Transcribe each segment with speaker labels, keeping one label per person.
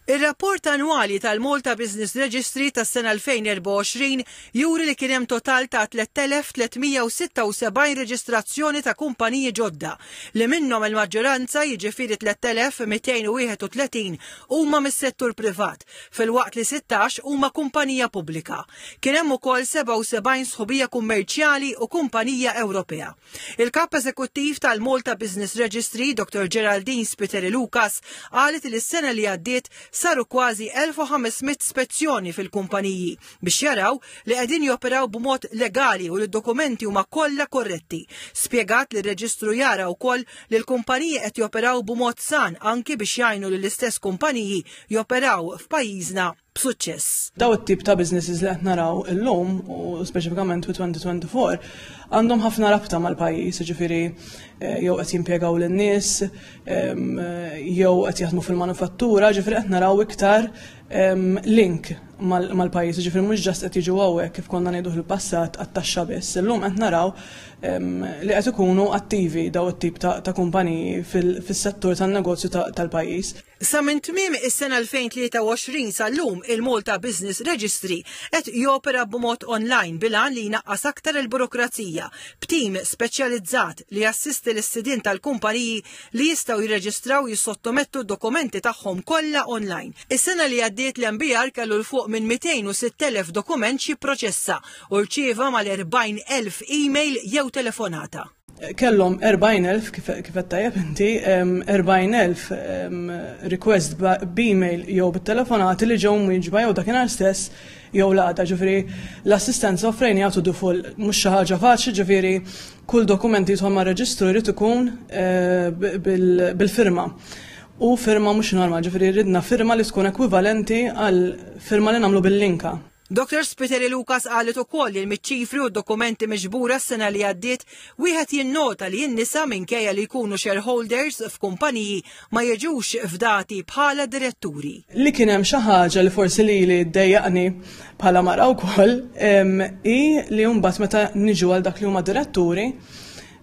Speaker 1: Ir-rapport annwali tal-Malta Business Registry tas-sena 2024 juri li kien hemm total ta' 3,376 reġistrazzjoni ta' kumpaniji ġodda, li minnhom il-maġġoranza, jiġifieri 3,231, huma mis-settur privat, filwaqt li 16 huma kumpanija pubblika. Kien hemm ukoll 77 sħubija kummerċjali u kumpanija Ewropea. Il-Kap Eżekuttiv tal-Malta Business Registry, Dottor Geraldine Spiteri Lucas, qalet li s-sena li għaddiet saru kważi 1,500 spezzjoni fil-kumpaniji biex jaraw li qegħdin joperaw b'mod legali u li d-dokumenti huma kollha korretti. Spjegat li r-reġistru jara wkoll li l-kumpaniji qed joperaw b'mod san anki biex jgħinu lill-istess kumpaniji joperaw f'pajjiżna b'suċċess. Daw it-tip ta'
Speaker 2: businesses li qed naraw illum u speċifikament fi 2024 għandhom ħafna rabta mal-pajjiż, ġifieri eh, jew qed jimpjegaw lin-nies, jew qed jaħdmu fil-manufattura, ġifieri qed naraw iktar link mal-pajjiż, ġifieri mhux ġast qed jiġu hawnhekk kif konna ngħidu fil-passat għat-taxxa biss. Illum qed naraw li qed ikunu attivi daw it-tip ta' kumpaniji fis-settur tan-negozju tal-pajjiż. Sa minn tmiem
Speaker 1: is-sena 2023 sal-lum il-Malta Business Registry qed jopera b'mod online bil-għan li jnaqqas aktar il-burokrazija, b'tim speċjalizzat li jassisti lis-sidien tal-kumpaniji li jistgħu jirreġistraw jissottomettu d-dokumenti tagħhom kollha online. Is-sena li għaddiet l-MBR kellu 'l fuq minn 206,000 dokument x'jipproċessa u rċieva mal-40,000 email jew telefonata. kellhom 40,000
Speaker 2: kif qed tajjeb inti 40,000 request b'email jew bit-telefonati li ġew mwieġba jew dakinhar stess jew l-għada ġifieri l-assistenza offrejn jagħtu dufol mhux xi ħaġa faċli ġifieri kull dokument li jidħol mar-reġistru jrid ikun eh, bil-firma. U firma mhux normal, ġifieri ridna firma li tkun ekwivalenti għal firma li nagħmlu bil-linka. Dottor Spiteri
Speaker 1: Lucas qalet ukoll li miċ-ċifri u d-dokumenti miġbura s-sena li għaddiet, wieħed jinnota li n-nisa minkejja li jkunu shareholders f'kumpaniji ma jiġux fdati bħala diretturi. Li kien hemm xi
Speaker 2: ħaġa li forsi lili ddejjaqni bħala mara wkoll hi li mbagħad meta niġu għal dak li huma diretturi,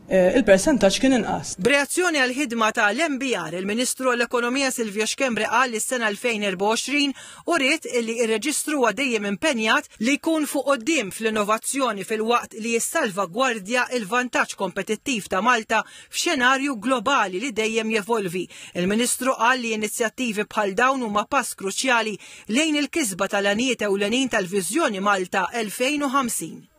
Speaker 2: il-persentaġġ kien inqas. B'reazzjoni għall-ħidma
Speaker 1: ta' l-MBR, il-Ministru għall-Ekonomija Silvio Schembri qal li s-sena 2024 uriet illi r-Reġistru huwa dejjem impenjat li jkun fuq quddiem fl-innovazzjoni filwaqt li jissalvagwardja l-vantaġġ kompetittiv ta' Malta f'xenarju globali li dejjem jevolvi. Il-Ministru qal li inizjattivi bħal dawn huma pass kruċjali lejn il-kisba ta' l-għanijiet ewlenin tal-Viżjoni Malta 2050.